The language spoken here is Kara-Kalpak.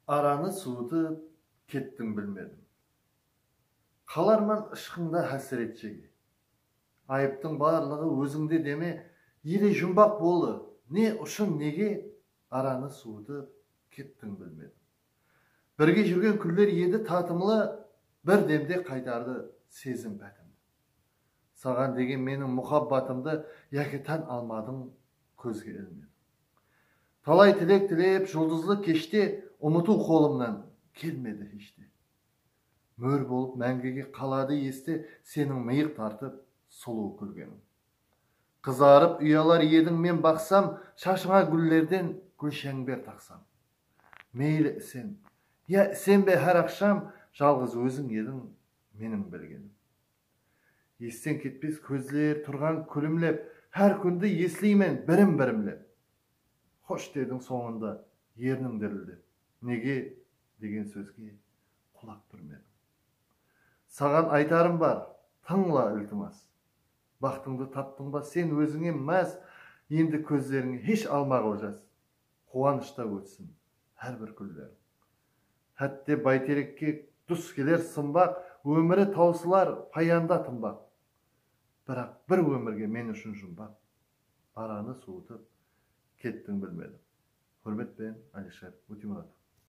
Aranı suwıtıp kettim bilmedim Qalarman ıshqıńda hásiret shege Ayıptıń barlıǵı ózińde deme Ele jumbaq bolı ne ushın nege Aranı suwıtıp kettim bilmedim Birge júrgen kúnler edi tatımlı Bir demde qaytardı sezim pátimdi Saǵan degen meniń muxabbatımdı Yaki tán almadıń kózge ilmedim. Talay tilek tilep juldızlı keshte Umıtıw qolımnan kelmedi hesh te. Mól bolıp máńgige qaladı este Seniń mıyıq tartıp sulıw kúlgeniń. Qızarıp uyalar ediń men baqsam Shashıńa gúllerden gúlsháńber taqsam. Meyli isen, ya isenbe hár aqsham Jalǵız óziń ediń meniń bilgenim. Esten ketpes kózler turǵan kúlimlep, Hár kúndi esleymen birim-birimlep. Xosh dediń sońında erniń dirildep, Nege degen sózge qulaq túrmediń. Saǵan aytarım bar, tıńla iltimas, Baxtıńdı taptıńba sen ózińe más, Endi kózlerińe hesh almaǵıl jas, Quwanıshta ótsin hár bir kúnleriń. Hátte Bayterekke dus keler sımbaq, Ómiri tawsılar payanda tımbaq. Biraq bir ómirge men ushın jumbaq, Baranı suwıtıp, kettiń bilmedim. Húrmetpen, Alisher Utimuratov.